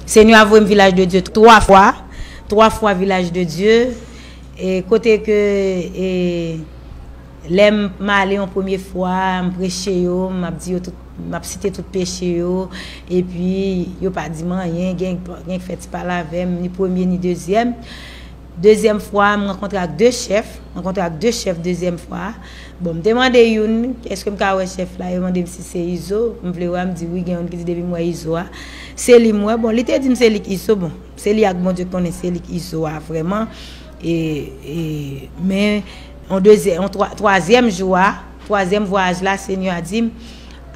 Senyè a voyem vilaj de Dye 3 fwa 3 fwa vilaj de Dye e kote ke e lèm m ale yon premye fwa m preche yo m ap di yo tout m ap site tout peche yo epi yo pa di m anyen gen k fè ti pale avèm ni premye ni dezyèm Dezyèm fwa a, m rankontre ak de chèf, m rankontre ak de chèf dezyèm fwa a. Bon, m te mande youn, èske m ka wè chèf la? Yo mande m si se Izo m vle wè a. M di wi, gen youn ki di depi m wè Izo a, se li m wè. Bon, li te di m se li k Izo. Bon, se li ak Bondye k konnen se li k Izo a vrèman. E, e, men, yon dezyè, yon twa, twazyèm jou a, twazyèm vwayaj la, Senyè a di m,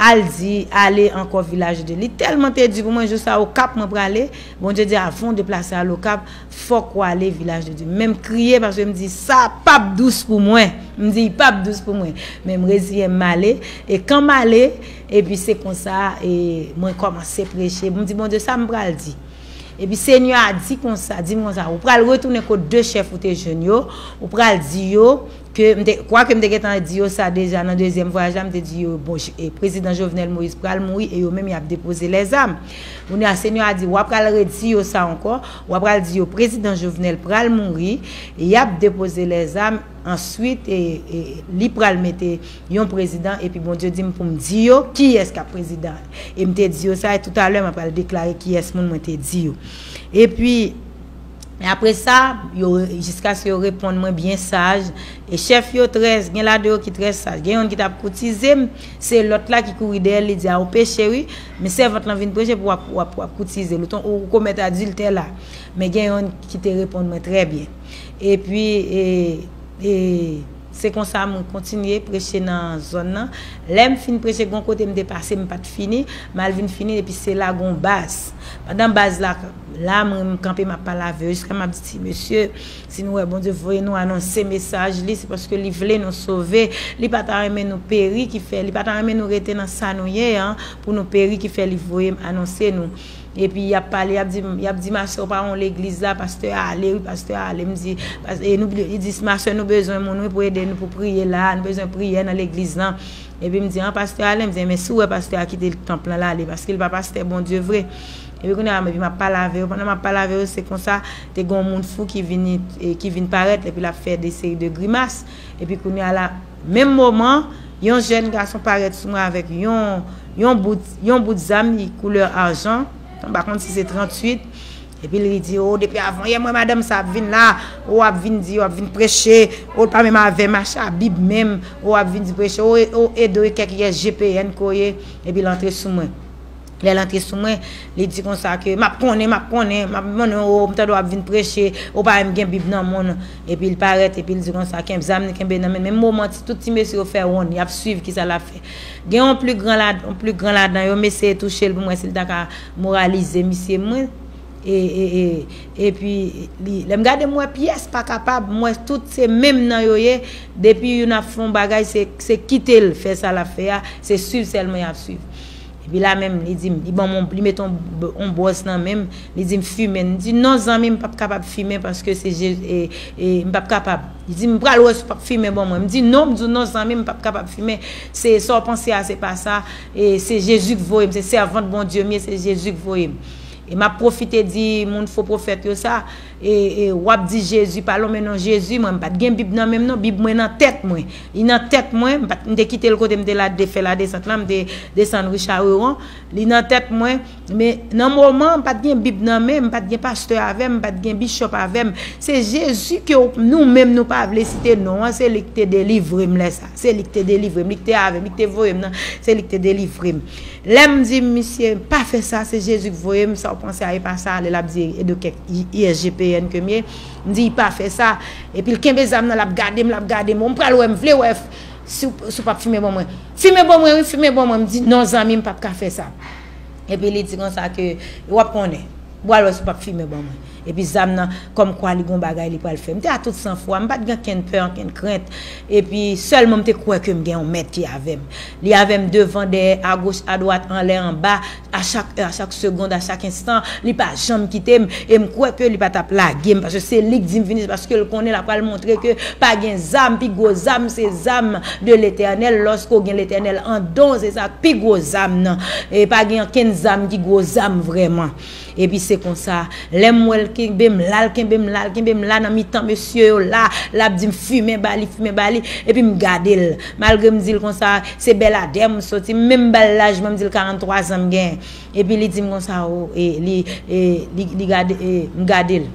Al di, ale ankò Vilaj de. Li tèlman te di pou mwen, jou sa a Okap mwen prale. Bondye di, Avan w deplase al Okap, Fok ou ale vilaj de Dieu. Menm kriye paske m di sa pap dous pou mwen. M di li pap dous pou mwen. Men m reziyen m ale. E kan m ale, epi se konsa e mwen komanse preche. M di Bondye sa m pral di. Epi Senyè a di konsa, di m konsa, ou pral retounen kot de chèf ou te jwenn yo, ou pral di yo ke, m te, kwake m te gentan di yo sa deja nan dezyèm vwayaj la, m te di yo bon prezidan Jovenel Moïse pral mouri e yo menm y ap depoze lèzam. Kounye a Senyè a di w apral redi yo sa ankò. Wa pral di yo prezidan jovenel pral mouri yap depoze lèzam answit li pral mete yon prezidan epi bondye dim poum di yo kiyès kap prezidan em te di yo sa e toutalè ma pral deklare kiyès moun mwen te di yo epi apresa yo jiskaske yo reponn mwen byen saj e chèf yo trè gen la de yo ki trè saj gen yonn ki tap koutizem se lòt la ki kouri dèyèl li di a ou peche wi Men sèvant lan vin preche pou w ap koutize l. Ou komèt adiltè la. Men gen yonn ki te reponn mwen trè byen. Epi, se konsa mwen kontinye preche nan zòn nan. Lè m fin preche, gen yon kote m te pase m pa t fini. M al vin fini l epi se la gen yon baz. Pandan baz la la, mwen kanpe m ap pale avè yo jiska m ap di ti mesye, Si nou wè Bondye voye nou anonse mesaj li, se paske li vle nou sove. Li pa ta renmen nou peri ki fè, li pa ta renmen nou rete nan sa nou ye an pou nou peri ki fè li voye m anonse nou. Epi y ap pale, y ap di m, y ap di m, masè ou pa won legliz la, pastè a ale wi, pastè a ale. M di, pas, e nou, li di, masè nou bezwen moun wi pou ede nou pou priye la a, nou bezwen priyè nan legliz lan. Epi m di, an pastè a ale? M di, enben si w wè pastè a kite tanp lan l ale, paske li pa pastè Bondye vre. Epi kounye a epi m ap pale avè yo. Pandan m ap pale avè yo, se konsa, te gen yon moun fou ki vini, ki vin parèt, epi l ap fè de seri de grimas. Epi kounye a la, menm moman, yon jèn gason parèt sou mwen avèk yon, yon bout, yon bout zam li koulè arjan, m pa konn si se 38, epi l li di, O, depi avanyè m wè madanm sa a ap vin la, o, ap vin di, o, ap vin preche, o, l pa menm avè m acha Bib menm, o, ap vin di preche, o, e, o, Edo e kèk rès GPN ke w ye, epi l antre sou mwen. Lè l antre sou mwen, li di konsa ke, M ap konnen, m ap konnen, m ap konnen w, m tande w ap vin preche, ou pa menm gen Bib nan men w. Epi l parèt, epi l di konsa, Kenb zam li kenbe nan men l. Menm moman, ti tout ti mesye yo fè wonn, y ap suiv kisa l ap fè. Gen yon pli gran la, yon pli gran ladan yo, m eseye touche l pou m wè si l ta ka moralize misye. Mwen, e, e, e, epi li, lè m gade m wè pyès pa kapab, m wè tout se menm nan yo ye, depi youn ap fè yon bagay, se, se kite l fè sa l ap fè a, se suiv sèlman y ap suiv. Epi la menm li di m, li ban m on, li met on, on bwòs nan men m, li di m fimen. M di, non zanmi m pap kapab fimen paske se je, e, e, m pap kapab. Li di m, m pral wè si w pap fimen ban mwen. M di, non, m di w non zanmi m, m pap kapab fimen. Se, sa w panse a se pa sa. E, se Jezi k voye m, se sèvant Bondye m ye, se Jezi k voye m. E m ap pwofite di moun fo pwofèt yo sa, Wap di jezi pa lonmen non jezi mwen mpat gen bib nan menm non bib mwen nan tèt mwen li nan tèt mwen mte kitel kote mte la de fè la desant la mte desann ri chareron li nan tèt mwen men nan moman mpat gen bib nan menm mpat gen pastè avèm mpat gen bishop avèm se jezi ke nou menm nou pa vle site non an se lik te delivrem lè sa se lik te delivrem lik te avèm lik te voyem nan se lik te delivrem. Lèm di misye pa fè sa se Jezi k voyem sa w panse a epa sa lè lap di edo kèk ISGPN kem ye m di pa fè sa epi l kenbe zam nan lap gadem lap gadem bon m pral wè m vle wè si w pap fimen bon mwen fimen bon mwen wi fimen bon mwen m di non zanmi m pap ka fè sa epi li di konsa ke wap konnen. Bwal wè si w pap fimen ban mwen. Epi zam nan, kòm kwa li gon bagay li pral fè. M te a tout san fwa, m pat gen ankenn pè, ankenn krent. Epi, sèlman m te kwè ke m gen yon mèt ki avè m. Li avè m devan, dèyè, agoch, adwat, anlè, anba, a chak è, a chak segond, a chak enstan, li pa janm kite m, e m kwè ke li pa tap lage m, paske se li k di m vini, se paske l konnen l apral montre ke pa gen zam, pi gwo zam se zam. de letènèl lòske w gen letènèl andan w se sa k pi gwo zam nan e pa gen ankenn zam ki gwo zam vrèman epi se konsa lè m wè l kenbe m la l kenbe m la l kenbe m la nan mitan mesye yo la l ap di m fimen ba li fimen ba li epi m gade l malgre m di l konsa se bèladè m soti m menm ba l laj mwen m di l 43 zan m gen epi li di m konsa o e li e li gade e m gade l.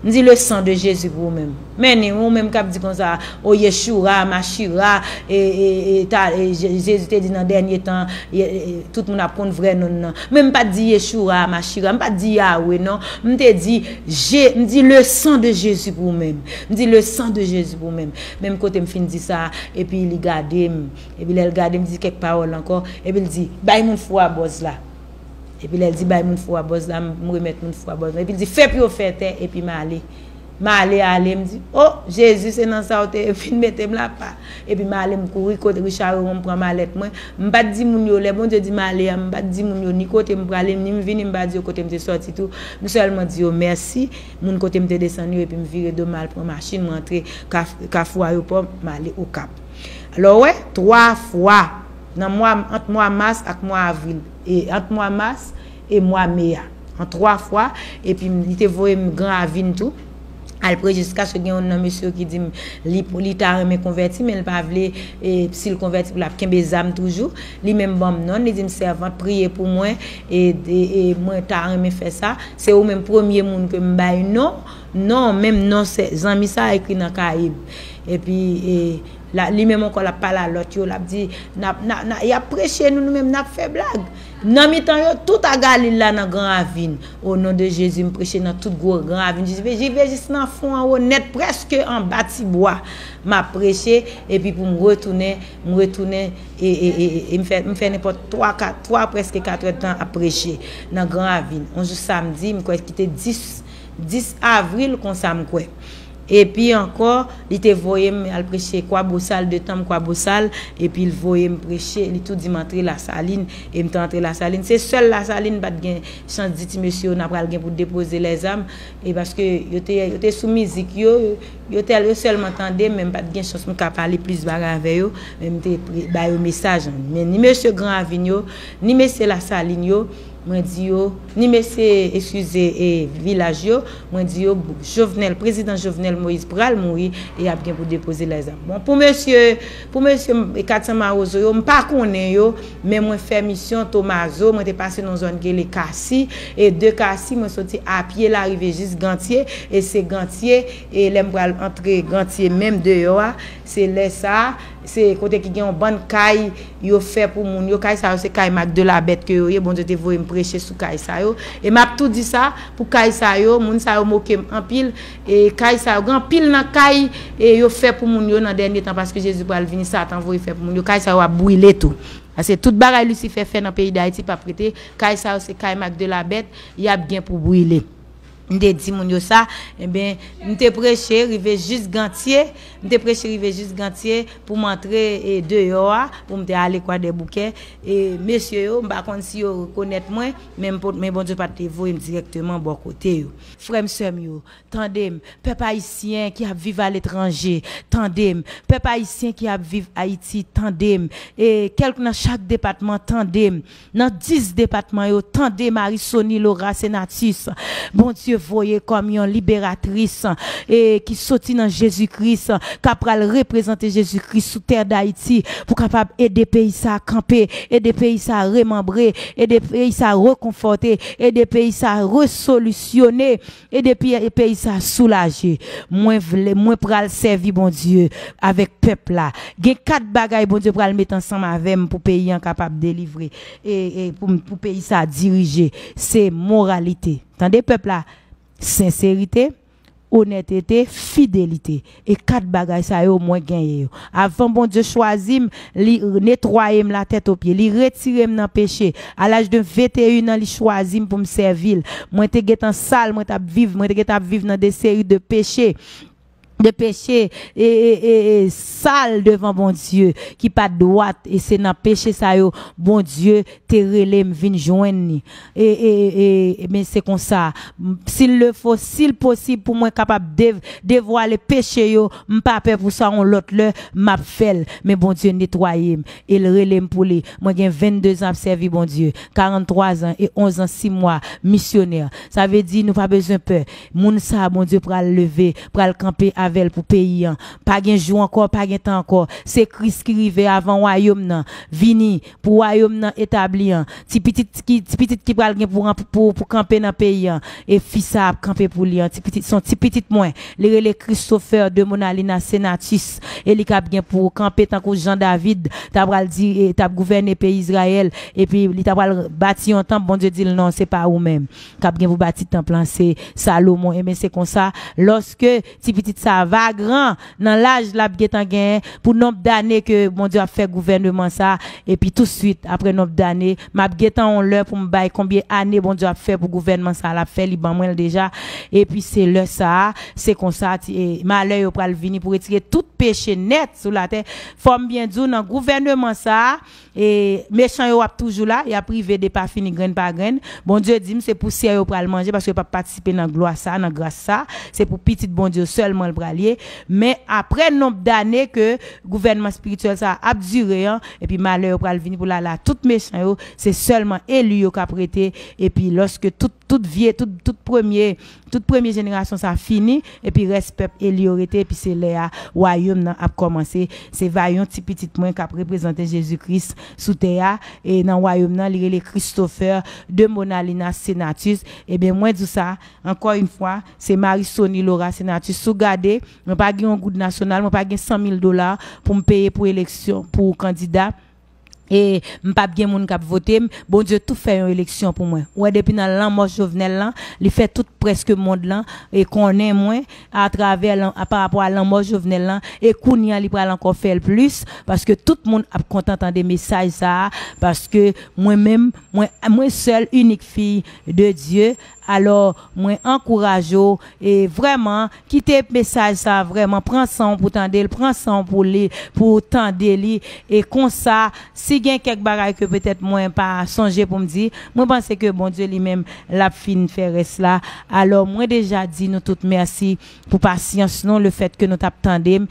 M di le sang de Jezi pou ou menm. Men ni ou menm kap di konsa o yeshura, mashira e e ta e jezi te di nan dènye tan tout moun ap konn vrè nonn nan. Men m pat di yeshura, mashira m pat di yahwe non m te di je m di le sang de jezi pou ou menm. M di le sang de jezi pou ou menm. Menm kote m fin di sa epi li gade m epi lè l gade m di kèk pawòl ankò epi l di bay moun fou a bòz la. Epi lè l di bay moun fou a bòz la, m remèt moun fou a bòz la. Epi l di fè pou yo fè tè, epi m ale. M ale ale, m di, o, Jezi se nan sa ou te vin mete m la pa. Epi m ale m kouri kot Richard Rerond m pran malèt mwen. M pa t di moun yo, lè Bondye di m ale a, m pa t di moun yo ni kote m prale, ni m vini m pa di yo kote m te sòti tou. M sèlman di yo mèsi, moun kote m te desann yo epi m vire do m al pran machin m antre kafou ayopò m ale Okap. Alò ou wè, twa fwa! nan mwa ant mwa mas ak mwa avril e ant mwa mas e mwa me a an twa fwa epi li te voye m gran avi n tou al pre jiskaske gen youn nan mesye yo ki di m li li ta renmen konvèti men li pa vle e si l konvèti pou l ap kenbe zam toujou li menm ban m non l li di m sèvant priye pou mwen e e mwen ta renmen fè sa se ou menm premye moun ke m bay non non menm non sè zanmi sa a ekri nan kaye m epi e La, li menm ankò l ap pale a lòt yo, l ap di, N ap, n a, n a, y ap preche, nou, nou menm, n ap fè blag. Nan mitan yo, tout a Galile la nan gran ravin. O non de Jezi, m preche nan tout gwo gran ravin jis ve, jis ve jis nan fon an wo nèt prèske anba ti bwa. M ap preche, epi pou m retounen, m retounen, e, e, e, e, e m fè, m fè nenpòt twa, kat, twa prèske katrèdtan ap preche nan gran ravin. On jou samdi, m kwè ki te 10, 10 avril konsa m kwè. Epi ankò, li te voye m al preche Kwabosal, de tanm Kwabosal, epi l voye m preche, li tou di m antre Lasalin, e m te antre Lasalin. Se sèl Lasalin m pa t gen chans di ti mesye yo n apral gen pou depoze lèzam, e paske yo te yo te sou mizik yo, yo tèl yo sèlman tande m, men m pa t gen chans pou m ka pale plis bagay avè yo, men m te pre ba yo mesaj. Men ni mesye Gran Ravin yo, ni mesye Lasalin yo, Mwen di yo, ni mesye eskize e vilaj yo, mwen di yo Jovenel, prezidan Jovenel Moïse pral mouri e yap gen pou depoze lè zam. Bon, pou mesye, pou mesye 400 mawozo yo, m pa konnen yo, men mwen fè misyon Tomazo, mwen te pase nan zòn ki rele Kasi, e de Kasi mwen soti a pye la rive jis Gantye, e se Gantye, e lè m pral antre Gantye menm deyò a, se lè sa a, Se kote ki gen yon bann kay yo fè pou moun yo. Kay sa yo se kay Mak de la Bèt ke yo ye. Bondye te voye m preche sou kay sa yo. E m ap tou di sa, pou kay sa yo, moun sa yo moke m anpil. E kay sa yo, gen anpil nan kay e yo fè pou moun yo nan dènye tan, paske Jezi pral vini, Satan voye fè pou moun yo, kay sa yo ap brile tou. Paske tout bagay Lisifè fè nan peyi Dayiti p ap rete. Kay sa yo se kay Mak de la Bèt, y ap gen pou brile. M te di moun yo sa, enben, m te preche rive jis Gantye, m te preche rive jis Gantye pou m antre deyò a, pou m te ale Kwadèboukè, e mesye yo, m pa konn si yo rekonèt mwen, men Bondye pa te voye m dirèkteman bò kote yo. Frè m, sè m yo, tande m, pèp ayisyen ki ap viv aletranje, tande m, pèp ayisyen ki ap viv Ayiti, tande m, e kèlk nan chak depatman, tande m, Nan 10 depatman yo tande Marie Sony Laura Senatus Bondye voye kòm yon liberatris e ki soti nan Jezi Kris ka pral reprezante Jezi Kris sou tè Dayiti pou kapab ede peyi sa kanpe ede peyi sa remanbre ede peyi sa rekonfòte ede peyi sa resolisyone E depi peyi sa soulaje mwen vle mwen pral sèvi Bondye avèk pèp la. Gen 4 bagay Bondye pral met ansanm avèm pou peyi an kapab delivre e pou peyi sa dirije se moralite tande pèp la senserite onètete fidelite E kat bagay sa yo mwen genyen yo. Avan Bondye chwazi m, li netwaye m latètopye. Li retire m nan peche. A laj de 21 an, li chwazi m pou m sèvi l. Mwen te gen tan sal, mwen t ap viv, mwen te gen tan ap viv nan de seri de peche, de peche e, e, e, e, sal devan Bondye, ki pa t dwat. E se nan peche sa yo Bondye te rele m vin jwenn li. e e e e men se konsa sil le fo sil posib pou mwen kapab dev devwale peche yo m pa pè pou sa on lòt lè map fèl men Bondye netwayem el relem pou li mwen gen 22 zan ap sèvi Bondye 43 zan e 11 zan 6 mwa misyonè sa vle di nou pa bezwen pè moun sa Bondye pral leve pral kanpe avèl pou peyi an pa gen jou ankò pa gen tan ankò se Kris ki rive avan wayom nan vini pou wayom nan etabli an ti pitit ki ti pitit ki pral gen pou ran pou pou kanpe nan peyi an e fi sa ap kanpe pou li an ti pitit son ti pitit mwen li rele Christopher de Monalina Senatus e li kap gen pou kanpe tankou jan David ta pral di e tap gouvène peyi Israël epi li ta pral bati yon tanp Bondye dil non se pa ou menm kap gen pou bati tanp lan se Salomon e ben se konsa loske Ti pitit sa va gran nan laj lap gentan gen pou nonb dane ke Bondye ap fè gouvèneman sa epi tou swit aprè nonb dane map gentan on lè poum bay konbyen ane Bondye ap fè pou gouvèneman sa lap fè li ban mwenl deja epi se lè sa se konsa ti malè yo pral vini pou retire tout peche nèt sou latè fòm byen diw nan gouvèneman sa E mechan yo ap toujou la, y ap rive depafini grenn pa grenn. Bondye di m se pousyè yo pral manje paske yo p ap patisipe nan glwa sa a, nan gras sa a. Se pou pitit Bondye yo sèlman l pral ye. Men, apre nonb dane ke gouvènman espirityèl sa a ap dire an, epi malè yo pral vini pou l ale a tout mechan yo, se sèlman eli yo k ap rete. Epi lòske tout, tout vye, tout, tout premye. Tout premye jenerasyon sa fini epi rès pèp eli yo rete epi se lè a wayom nan ap kòmanse se va yon ti pitit mwen kap reprezante Jezi Kris sou tè a e nan wayom nan li rele Christopher de Monalinas Senatus ebyen mwen di w sa ankò yn fwa se Marie Sony Laura Senatus si w gade mwen pa gen yon goud nasyonal mwen pa gen 100 mil dola pou m peye pou eleksyon pou kandida e m pap gen moun kap votem Bondye tou fè yon eleksyon pou mwen ou wè depi nan lanmò Jovenel lan li fè tout prèske mond lan e konnen mwen a travè parapò a lanmò Jovenel lan e kounya li pral ankò fèl plis paske tout moun ap kontan tande mesaj sa paske mwen menm mwen sèl inik fiy de Dye Alò mwen ankouraje w e vrèman kite mesaj sa a vrèman pran san w pou tande l, pran san w pou li pou w tande li e konsa si gen kèk bagay ke petèt mwen pa sonje pou m di, mwen panse ke Bondye li menm l ap fin fè rès la. Alò mwen deja di nou tout mèsi pou pasyans nou lefèt ke nou t ap tande m.